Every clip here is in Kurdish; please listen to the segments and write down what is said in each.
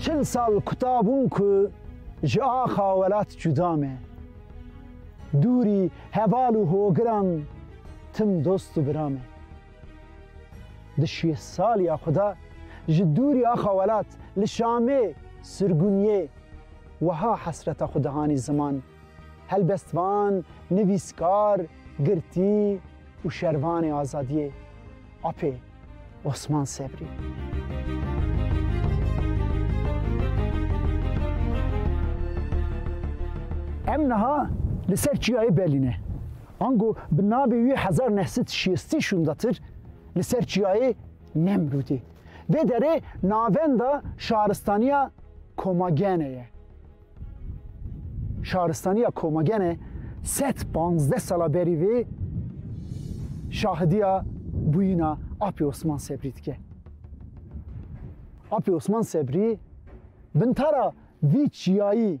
Çil sal kuta bûn ku ji axa welat cuda me. Dûrî heval û hogiran tim dost û bira me. Di şêst saliya xwe de ji dûrî axa welat li Şamê sirgûniyê weha hesreta xwe dihanî ziman, Helbestvan, nivîskar, girtî û şervanê azadiyê, apê Osman Sebrî. Em niha li ser çiyayê Berlîn e. Ango bi navê wî hezar neh sed şêstî şûndatir li ser çiyayê Nemrûdê. Vê derê navenda şaristaniya Komagene ye. Şaristaniya Komagene sed panzdeh sala berî vê şahidiya bûyîna Apê Osman Sebrî dike. Apê Osman Sebrî bintara vî çiyayî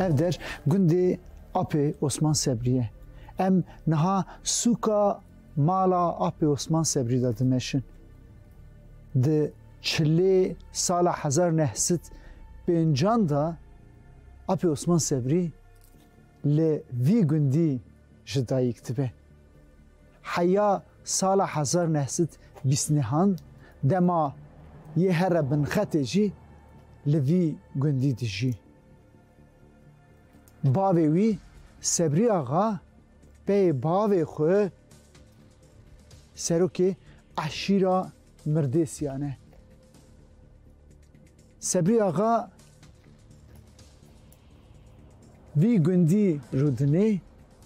Ev der gundê Apê Osman Sebrî ye. Em niha sûka mala Apê Osman Sebrî de dimeşin. Di Çi lê sala hezar neh sed pêncan de Apê Osman Sebrî li vî gundî ji dayîk dibe. Heya sala hezar neh sed bîst nihan dema yê here binxetê jî li vî gundî dijî. Bavê wî Sebrî Axa peyê bavê xwe serokê eşîra mirdêsiyane. Sebrî Axa vî gundî Rûdinê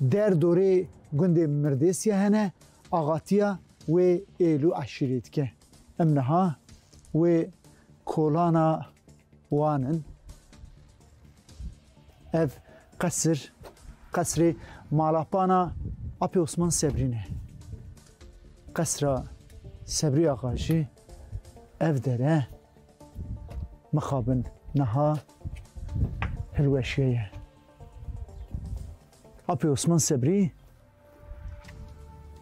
der dorê gundê Mirdêsiye hene axatiya wê êl û eşîrê dike. Em niha wê kolana wan in. Ev qesir, qesrê malapana Apê Osman Sebrî ne. Qesra Sebrî Axa jî ev dere mixabin niha hilweşiye ye. Apê Osman Sebrî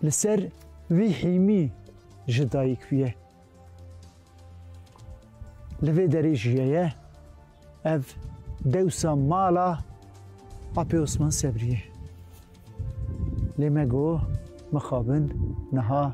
Li ser wî hîmî ji dayik bûye. Li vê derê jiyeye ev dewsa mala Apê Osman Sebrî ye. Lê me got mixabin niha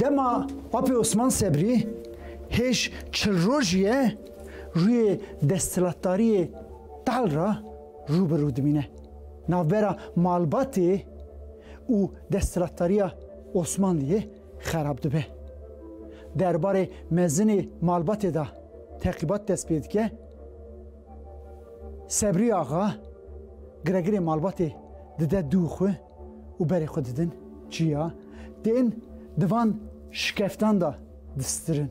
Dema Apê Osman Sebrî hêj çil roj ye rûyê desthilatdariyê tal re rû bi rû dimîne. Navbera malbatê û desthilatdariya Osmanliyê xerab dibe. Derbarê mezinê malbatê de teqîbat dest pê dike. Sebrî Axa giregirê malbatê dide dû xwe û berê xwe didin çiya, tên di van şikeftan de distirin.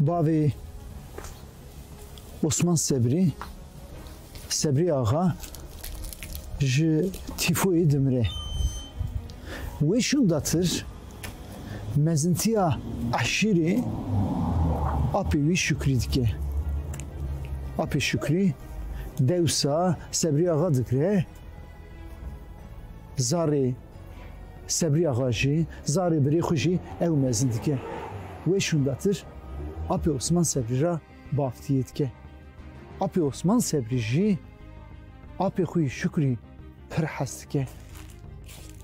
Bavê Osman Sebrî, Sebrî Axa ji tîfoyê dimire. Wê şûndatir mezintiya eşîrê apê wî Şukrî dike. Apê Şukrî dewsa Sebrî Axa dikire zarê Sebriya xwe ji zarê birê xwe jî ew mezin dike. Wê şûndatir Apê Osman Sebrî re baftiyê dike. Apê Osman Sebrî jî apê xwe yî Şukrî pir hez dike.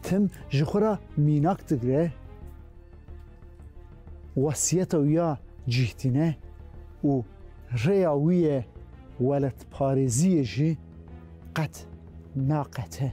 Tim ji xwe re mînak digire, wesiyeta wî ya cîh tîne û rêya wî yê weletparêziyê jî qet naqete.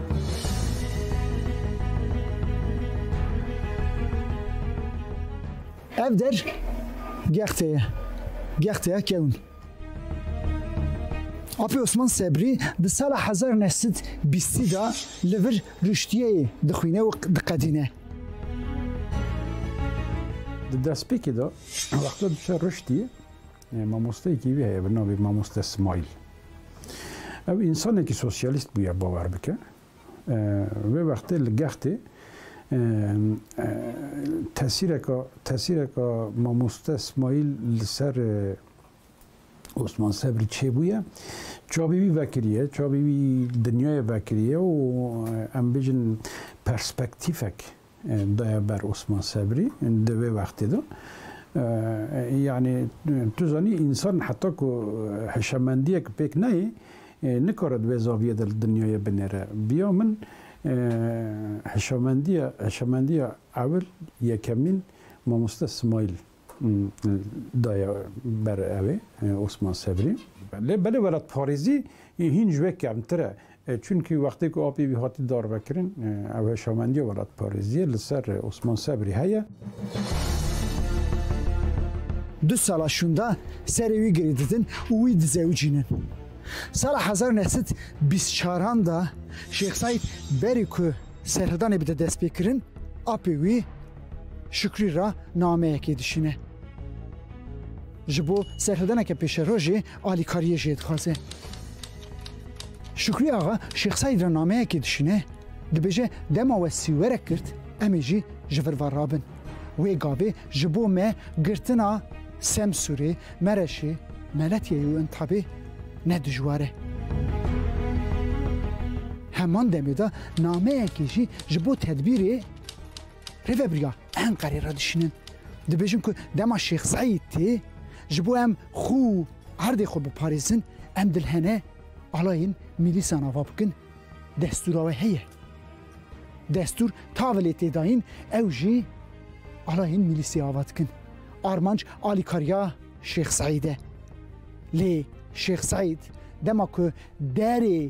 Ev der gexte ye. Gexte ye kewin. Apê Osman Sebrî di sala hezar neh sed bîstî da li vir rûştiyeyê dixwîne û diqedîne. Di destpêkê de wexta diçe rûştiyê Mamosteyekî wî heye bi navê Mamoste Smile. Ew însanekî sosyalîst bûye bawer bike. Wê wextê li gextê tesîreka tesîreka Mamoste Smile li ser Osman Sebrî çêbûye. Çavê wî vekiriye, çavê wî dinyayê vekiriye û em bêjin perspektîfek Daya ber Osman Sebrî di vê wextê de yanî tu zanî însan heta ku hişemendiyek pêk neyê nikare di vê zaviyê de li dinyayê binêre. Biya min hişemendiya hişemendiya ewil yekemîn mamoste Smaîl Daya ber ew ê Osman Sebrî. Lê belê welatparêzî hîn ji wê kemtir e. Çunkî wextê ku apê wî hatiye darvekirin ew heşawendiya welatparêziyê li ser Osman Sebrî heye. Du sala şûnda serê wî girê didin û wî dizewicînin. Sala hezar u neh sed û bîst û çar an de Şêx Seîd berî ku serhildanê bide destpêkirin apê wî, Şukrî re nameyekê dişîne. Ji bo serfidaneke pêşerojê alîkariyê jê dixwaze. Şukrî axa Şêx Seîd re nameyekê dişîne, dibêje dema we sîwerek girt em ê jî ji vir ve rabin. Wê gavê ji bo me girtina Semsûrê, Mereşê, Meletiyê û Intabê ne dijwar e. Heman demê de nameyekê jî ji bo tedbîrê Rêveberiya Enqerê re dişînin, dibêjin ku dema Şêx Seîd tê ji bo em xwe û erdê xwe biparêzin, em dilhene alayên mîlîsan ava bikin. Destûra we heye. Destûr tavê lê tê dayîn, ew jî alayên mîlîsê ava dikin. Armanc alîkariya Şêx Seîd e. Lê Şêx Seîd dema ku derê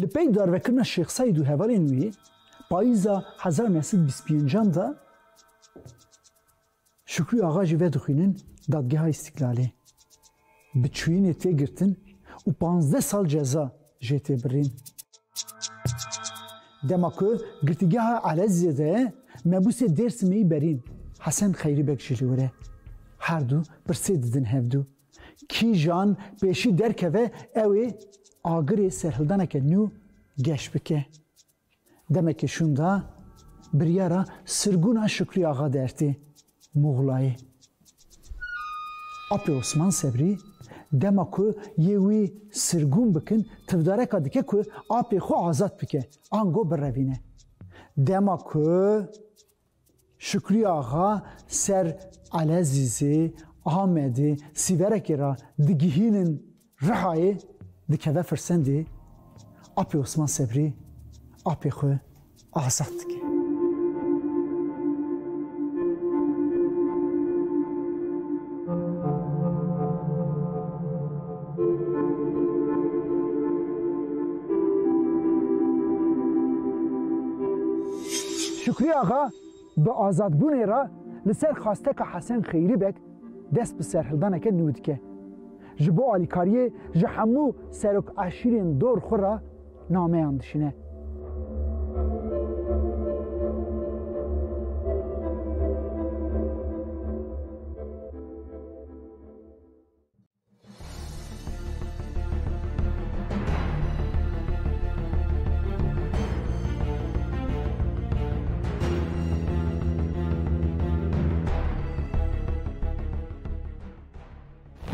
Li pey darvekirina Şêx Seîd û hevalên wî payîza hezar neh sed bîst pêncan de Şukrî Axa jî vedixwînin Dadgeha Îstîklalê bi çûyînê tê girtin û panzdeh sal ceza jê tê birîn. Dema ku girtîgeha Elezizê de ye, mebûsê Dêrsimê yî berîn Hesen Xeyrîbeg jî li wir e. Her du pirsê didin hevdu. Kîjan pêşî derkeve ew ê agirê serhildaneke nû geş bike. Demekê şûnda biryara sirgûna Şukrî Axa Dertê, Muxlayê. Apê Osman Sebrî dema ku yê wî sirgûn bikin tivdareka dike ku apê xwe azad bike, ango birevîne. Dema ku. Şukrî Axa ser Elezîzê, Amedê, Sîverekê re digihînin Rihayê dikeve Firsendê, apê Osman Sebrî apê xwe azad dike. Şukrî Axa bi azadbûnê re li ser xwasteka Hesen Xeyrî Beg dest bi serhildaneke nû dike. Ji bo alîkariyê ji hemû serok eşîrên dor xwe re nameyan dişîne.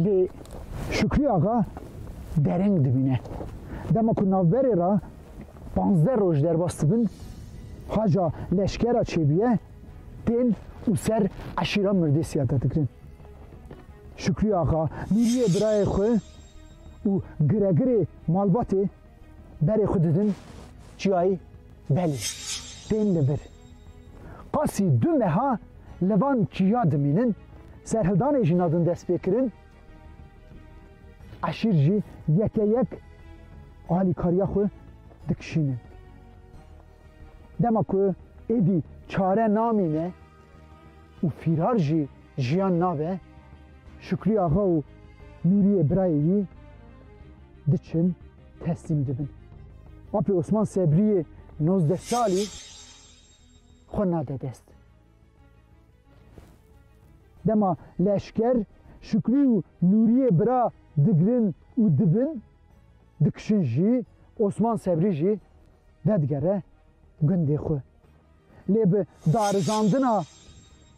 Lê Şükrî axa dereng dibîne. Dema ku navberê ra panzdeh roj derbas dibin, haca leşkera çêbûye tên û ser eşîra mirdêsiya te dikirin. Şükrî Axa, Nûriyê birayê xwe û giregirê malbatê berê xwe didin çiyayê Belê. Tên li vir. Qasî du meha li van çiya dimînin, serhildanê jina din dest pê kirin, eşîr jî yeke yek alîkariya xwe dikişînin. Dema ku êdî çare namîne û fîrar jî Jiyan nabe, Şukrî axa û Nûriyê birayê wî diçin teslîm dibin. Apê Osman Sebriyê nozdeh salî xwe nade dest. Dema leşker Şukrî û Nûriyê bira digirin û dibin, dikişin jî Osman Sebrî jî vedigere gundê xwe. Lê bi darizandina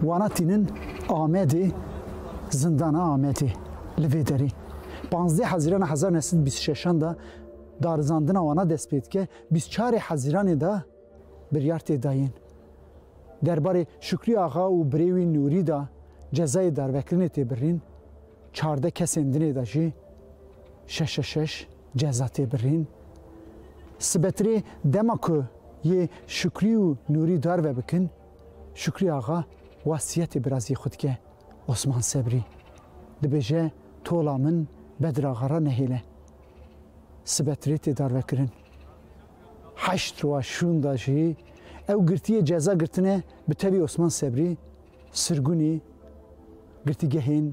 Wana tînin Amedê zindana Amedê li vê derê. Panzdeh Hezîrana hezar neh sed bîst şeşan da darizandina wana dest pê dike, bîst çarê Hezîranê da biryar tê dayên. Derbarê Şükrî Axa û birê wî Nûrî da cezayê darvekirinê tê birîn, çardeh kesên dinê da jî şeş şeş Ceza tê birîn. Sibetirê dema ku yê Şukrî û Nûrî darve bikin, Şukrî axa wasiyetê birazî xwe dike Osman Sebrî. Dibêje tola min Bedir axa re nehêle. Sibetirê tê darvekirin. Heşt roja şûnda jî ew girtiyê ceza girtine bi tevî Osman Sebrî, Sirgunî, girtîgehên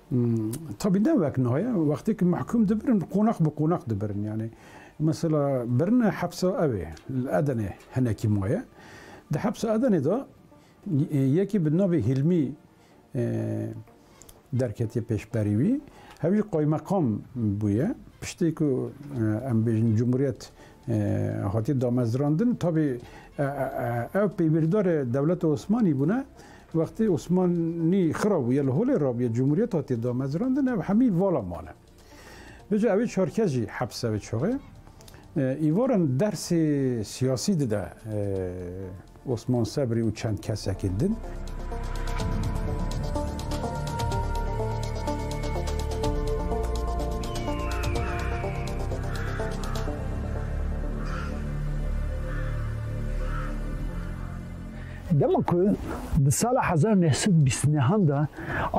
Tabî ne wek no ye. Wextê ku mehkûm dibirin qonex bi qonex dibirin. Yanî mesela birina hepsa ewê li Edenê hinekî maye. Di hepsa Edenê de yekê bi navê Hîlmî derketiye pêşberî wî. Hev jî qaymeqam bûye. Piştî ku em bêjin cumhuriyet hatiye damezrandin tabî ew pêwîrdarê dewleta Osmanî bûne. Wextê Osmanî xira bûye li holê rabûye cumhuriyet hatiye damezrandin ev hemî vala mane. Bêje ewê çar kes jî hepse wê çaxê îvaran dersê siyasî dide Osman Sebrî û çend kesekî din. Dema ku di sala hezar û neh sed û bîst û nehan de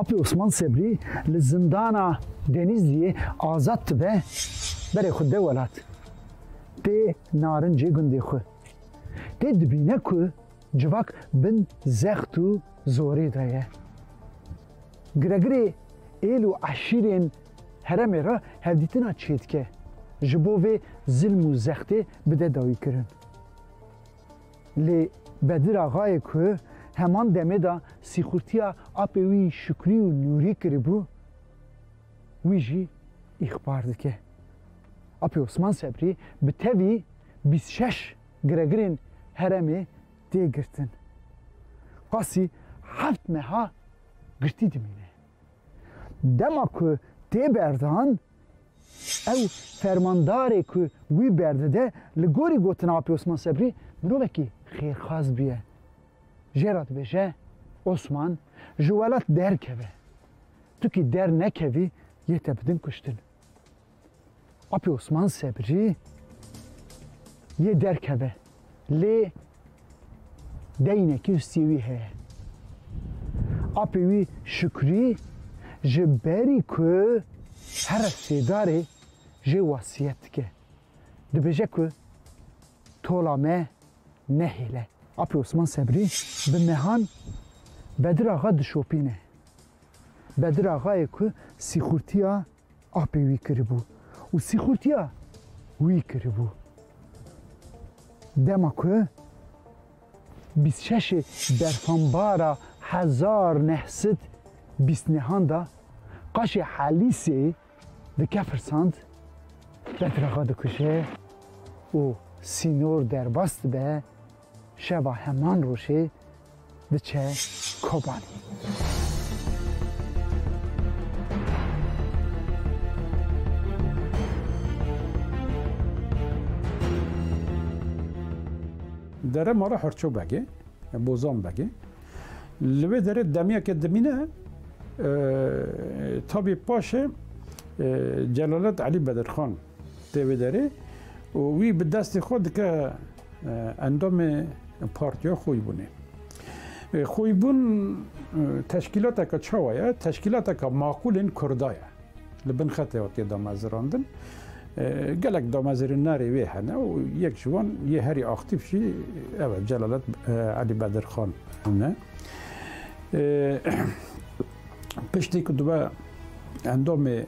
Apê Osman Sebrî li zindana Denîzliyê azad dibe, berê xwe de welat tê narincê gundê xwe. Tê dibîne ku civak bin zext û zorê de ye. Giregirê êl û eşîrên heremê re hevdîtina çêdike ji bo vê zilm û zextê bide dawîkirin. Lê Bedir Axayê ku heman demê de sîxurtiya apê wî Şukrî û Nûrî kiribû, wî jî îxbar dike. Apê Osman Sebrî bi tevî bîst û şeş giregirên heremê tê girtin. Qasî heft meha girtî dimîne. Dema ku tê berdan, Ew fermandarê ku wî berdide li gorî gotina Apê Osman Sebrî mirovekî xêrxwaz bûye. Jê re dibêje, Osman ji welat derkeve. Tu kî dernekevî yê te bidin kuştin. Apê Osman Sebrî yê derkeve. Lê deynekî ustiyê wî heye. Apê wî Şukrî ji berî ku here sêdarê jê wesiyet dike. Dibêje ku tola me nehêle. Apê Osman Sebrî bi mehan Bedir Axa dişopîne. Bedir Axayê ku sîxurtiya Apê wî kiribû û sîxurtiya wî kiribû. Dema ku bîst û şeşê berfanbara hezar neh sed bîst nehan da qaşê Helîsê dikefirsand, betrexa dikuje û sînor derbas dibe, Şeva heman rojê diçe Kobanî. Dere ma re Herço Beg e, Bozan Beg e. Li vê derê demiyeke dimîne tabî paşê Celalet Elî Bedirxan Tê vê derê û wî bi destê xwe dike endamê partiya Xwîbûnê. Xwîbûn teşkîlateke çawa ye? Teşkîlateke maqûlên Kurda ye. Li bin xetê hatê damezirandin. Gelek damezirînarê wê hene û yek ji wan yê herî aktîf jî ev e Celalet Elî Bedirxan ne. piştî ku dibe endamê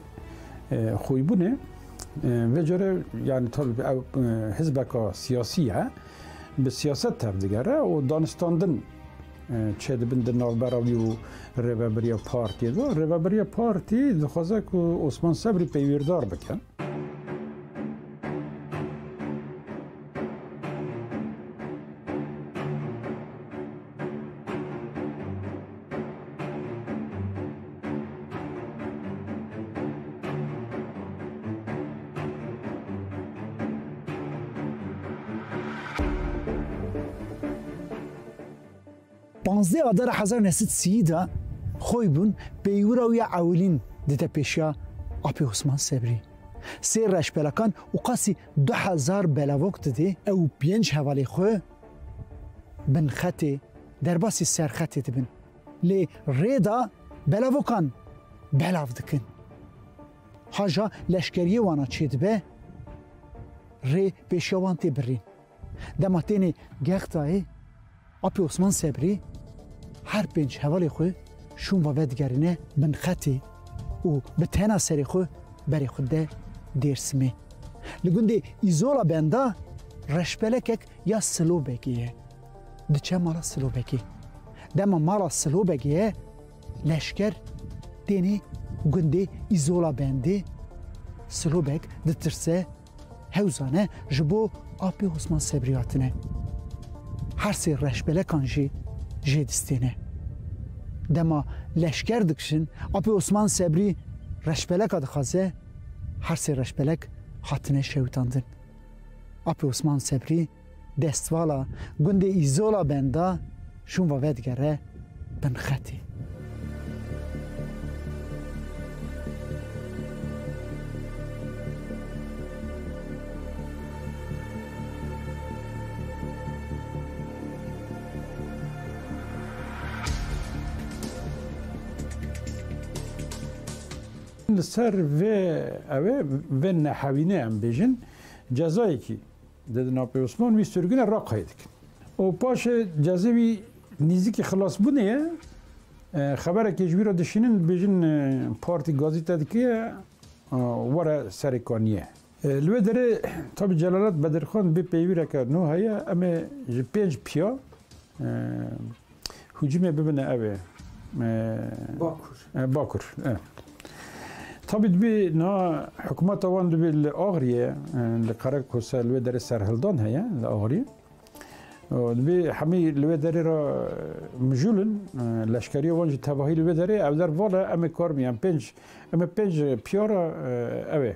xwîbûnê vê cure yani tabi ev hizbeka siyasî ye bi siyaset tev digere û danistandin çê dibin di navbera wî û rêveberiya partî de rêveberiya partî dixwaze ku Osman Sebrî peywîrdar bike. Panzdeh Adara hezar neh sed sî de xwe bûn peywira wî ya ewilîn dide pêşiya Apê Osman Sebrî. Sê reşpelakan û qasî du hezar belavok didê ew û pênc hevalê xwe Binxetê derbasî serxetê dibin lê rêda belavokan belav dikin. Haja leşkeriyê wana çêdibe rê pêşiya wan tê birîn. Dema tênê Gextayê, Apê Osman Sebrî her pênc hevalê xwe Şûnva vedigerîne bin xetê û bi tena serê xwe berê xwe dide Dêrsimê. Li gundê Îzola Benda reşpelekek ya Silobegê ye. Diçe mala Silobegê. Dema mala Silobegê ye leşker têne gundê Îzola Bendê. Silobeg ditirse. Hewzane ji bo apê Osman Sebrî hatine. Her sê reşbelekan jî jê distêne. Dema leşker dikişin, apê Osman Sebrî reşbeleka dixwaze, her sê reşbelek hatine şewitandin. Apê Osman Sebrî. Destvala gundê Îzola benda şûnva vedigere bin xetê. Li ser vê ew ê vê nehewînê em bêjin cezayekî Di dinapê Osman wî sirgine Raqayê dikin û paşê cezê wî nîzikî xilasbûnê ye. Xeberekê ji wî re dişînin dibêjin partî gazî te dike were serê kaniyê. Li wê derê tabî Celalet Bedirxan bê peyvîreke nû heye em ê ji pênc piya Hücumê bibine ev ê. Bakur. Bakur. Tabi dibê na hikûmeta wan dibê li Agriye li Qerekosa li wê derê serhildan heye li Agriye. Dibê hemî li wê derê re mijûlin leşkeriya wan jî tevahî li wê derê ev der vala em ê kar biyan pênc em ê pênc piyara ew ê.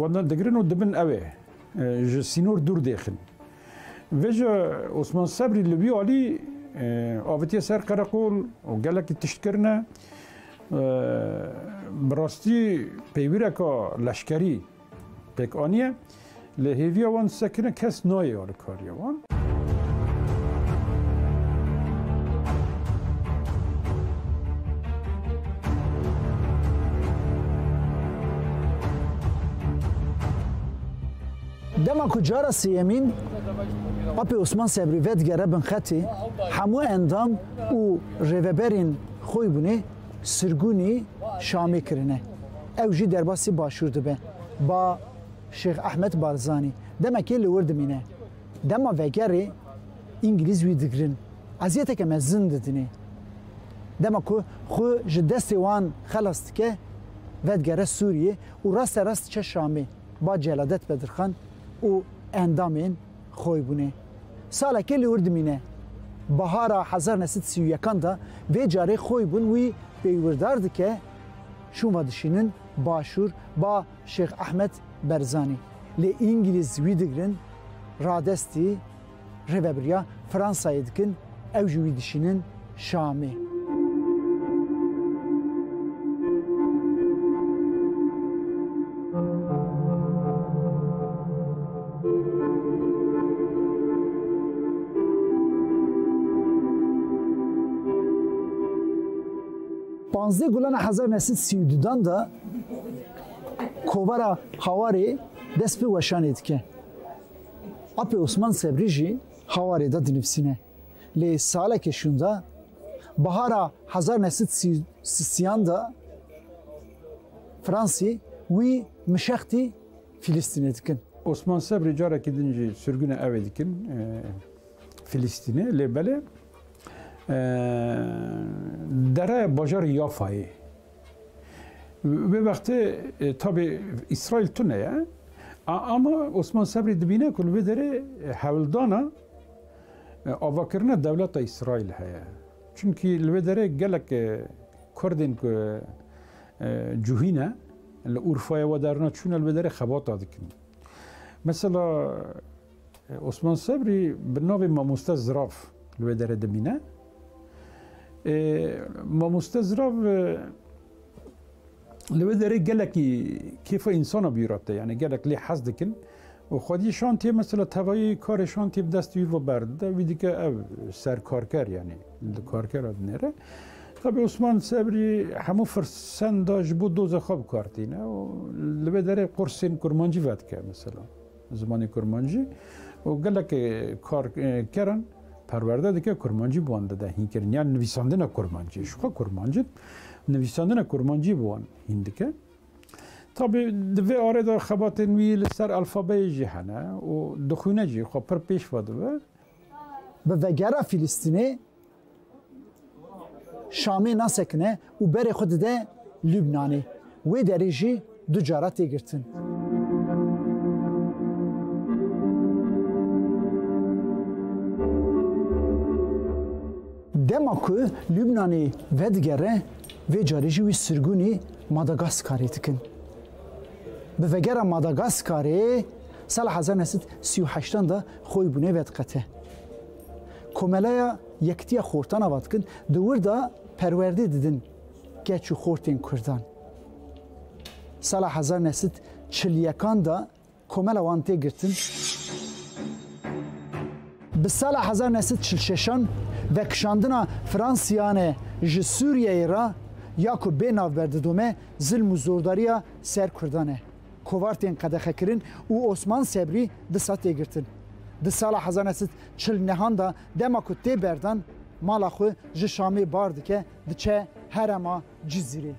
Wenda digirin û dibin ew ê ji sînor dûr dêxin. Vê ji Osman Sebrî li vî alî avitiye ser qereqol û gelekî tişt kirine. Bi rastî peywireka leşkerî pêk aniye. Lê hêviya wan disekine kes nayê alikariya wan. Dema ku cara sêyemîn Apê Osman Sebrî vedigere bin xetê, hemû endam û rêveberên xwe bûnê sirgûnî Şamê kirine. Ew jî derbasî başûr dibe. Ba Şêx Ehmed Barzanî demekê li wir dimîne. Dema vegerê Îngilîz wî digirin, eziyeteke mezin didinê. Dema ku xwe ji destê wan xelas dike, vedigere Sûriyê û raste rast diçe Şamê, ba celadet Bedirxan û endamên xwe bûne. Salekê li wir dimîne. Bahara hezar neh sed sî û yekan de vê carê xwe bûn wî pêywîrdar dike, şûn ve dişînin Başûr, ba Şêx Ehmed Berzanî lê Îngîlîz wî digirin, radestî rêvebiriya Fransayê dikin, ew jî wî dişînin Şamê. Panzdeh Gulana hezar neh sed sî û dudan de Kovara Hawarê dest bi weşanê dike. Apê Osman Sebrî jî Hawarê de dinivîsîne. Lê saleke şûnda bahara hezar neh sed sîyan de Fransî wî mişextî Filîstînê dikin. Osman Sebrî carekî din jî sirgûna evê dikin Filîstînê lê belê dereya bajarê Yafayê Vê wextê tabê Îsraîl tune ye. Ama Osman Sebrî dibîne ku li vê derê hewldana avakirina dewleta Îsraîl heye. Çimkî li vê derê gelek Kurdên ku cihî ne li Urfaya we derna çûne li vê derê xebata dikin. Mesela Osman Sebrî bi navê Mamoste Zirav li wê derê dimîne. Mamoste Zirav li wê derê gelekî kêfa însana bîrate yanî gelek lê hez dikin û xwedî şantiyê mesela tevayî karê şantiyê bi dest wî ve berdide wî dike ev serkarker yanî li karker e dinêre. Tabi Osman Sebrî hemû firsenda ji bo doza xwe bikar tîne û li vê derê qursên kurmancî vedike mesela. Zimanê kurmancî û gelekê kar keran perwerde dike kurmancî bi wan dide hînkirin yan nivîsandina kurmancî ji xwe kurmancî nivîsandina kurmancî bi wan hîn dike. Tabî di vê arê de xebatên wî li ser alfabeyê jî hene û dixwîne jî xwe pir pêş ve dibe. Bi vegera Fîlîstînê Şamê nasekine û berê xwe dide Lubnanê. Wê derê jî du cara tê girtin. Dema ku Lubnanê vedigere vê carê jî wî sirgûnî Madagaskarê dikin. Bi vegera Madagaskarê sala hezar neh sed sî û heştan de xwe û bûnê vediqete. Komeleya Yekitiya Xortan ava dikin, di wir de perwerdê didin keç û xortên Kurdan. Sala hezar neh sed çil yekan de komela wan tê girtin. Bi sala hezar neh sed çil şeşan vekişandina Fransiyane ji Sûriyeyê re ya ku bê navber didome zilm û zordariya ser Kurdan e. Kovar tên qedexekirin û Osman Sebrî disa tê girtin. Di sala hezar neh sed çil nehan de dema ku tê berdan mala xwe ji Şamê bar dike diçe herema Cizîrê.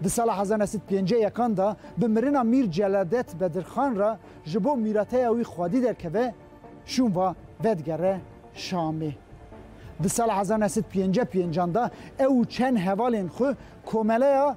Di sala hezar neh sed pêncî yekan de bi mirina Mîr Celadet Bedirxan re ji bo mîrateya wî xwedî derkeve şûn va vedigere Şamê. Di sala hezar neh sed pêncî pêncan de ew û çend hevalên xwe Komeleya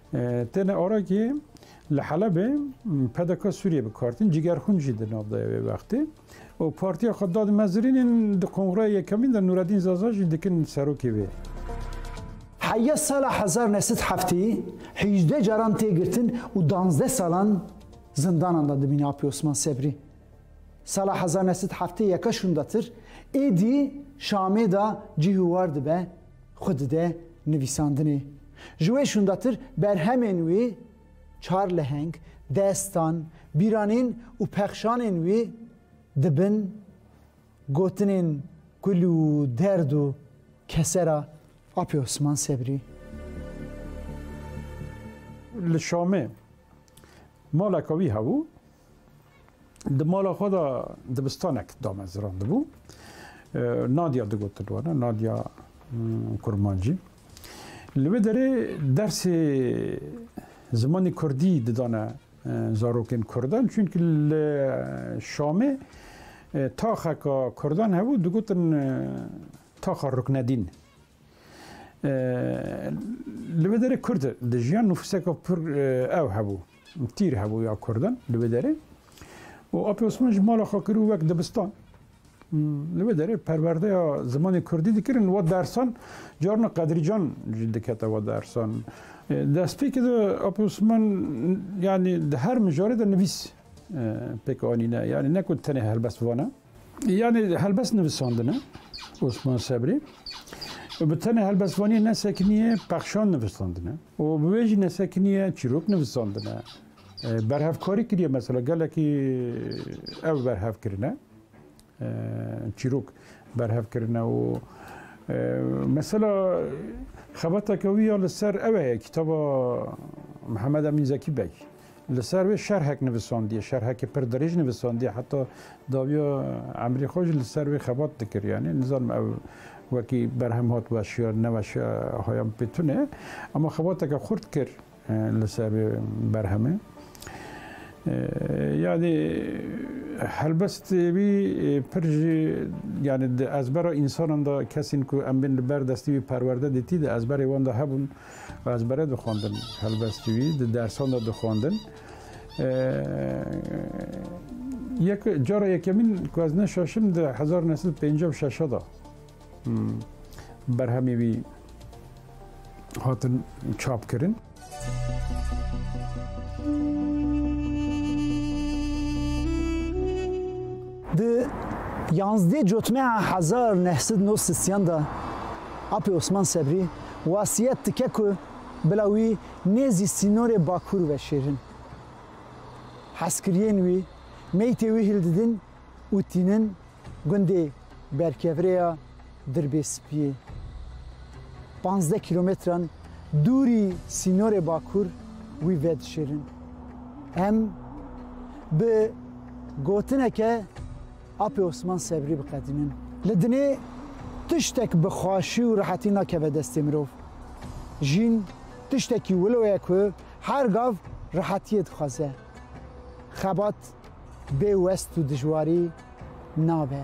Têne Orakî li Helebê PDK Sûriyê bi kartin cîgerxûn jî di nav daya wê wextê û partiya xwe da di mezirînên di kongraya yekemîn de Nûredîn Zaza jî dikin serokê wê. Heye sala hezar û neh sed heftê hîjdeh caran tê girtin û danzdeh salan zindanan de dimîne Apê Osman Sebrî. Sala hezar û neh sed heftê yeka şûndatir êdî Şamê de cîhûwar dibe Xwe dide nivîsandinê. Ji wê şûndatir berhemên wî, çar leheng, destan, bîranîn û pexşanên wî dibin gotinên kul û derd û kesera Apê Osman Sebrî. Li Şamê maleke wî hebû. Di mala xwe de dibistanek damezrandibû. Nadia digotin wana, Nadia Kurmancî. Li wê derê dersê zimanê Kurdî didane zarokên Kurdan çünkü li Şamê taxeka Kurdan hebû digotin taxa Ruknedîn. Li wê derê Kurd dijiyan nüfuseka pir ew hebû. Tîr hebû ya Kurdan li vê derê û Apê Osman ji mala xwe kirû wek dibistan. Li vê derê perwerdeya zimanê Kurdî dikirin wa dersan carna Qedrîcan jî dikete wa dersan. Destpêkê de Apê Osman yanî di her mijarê de nivîs pêk anîne. Yanî ne ku tenê helbest vana. Yanê helbest nivisandine Osman Sebrî û bi tenê helbestvaniyê nesekiniye pexşan nivisandine û bi wê jî nesekiniye çîrok nivisandine. Berhevkarî kiriye mesela gelekî ew berhev kirine çîrok berhev kirine û mesela xebateke wî ya li ser ew heye kitaba Mihemed Emîn Zekî Beg. Li ser wê şerhek nivisandiye, şerhekî pir dirêj nivisandiye, heta dawiya emrê xwe jî li ser wê xebat dikir. Yanî nizanim ew wekî berhem hat weşiya neweşiya haya min pê tune. Ama xebateke xurt kir li ser wê berhemê. Yanî helbest wî pir jî yanî di ezbera însanan de kesên ku em bên li ber destê wî perwerde dîtî de ezberê wan de hebûn. Ez bere dixwendin helbestî wî di dersan de dixwendin. Yek cara yekemîn ku ez neşaşim di hezar û nesil pêncî û şeşa da berhemê wî hatin çap kirin. Di yanzdê cotmeya hezar û neh sed û nod sisiyan de Apê Osman Sebrî wasiyet dike ku bila wî nêzî sînorê Bakur veşêrin. Hezkiriyên wî meytê wî hildidin û tînin gundê Berkevrêya Dirbêspiyê. Pazdeh kîlometran dûrî sînorê Bakur wî vedişêrin. Em bi gotineke Apê Osman Sebrî biqedînin. Li dinê tiştek bi xweşî û rehetî nakeve destê mirov. Jîn tiştekî wilo ye ku her gav rehetiyê dixwaze. Xebat bê west û dijwarî nabe.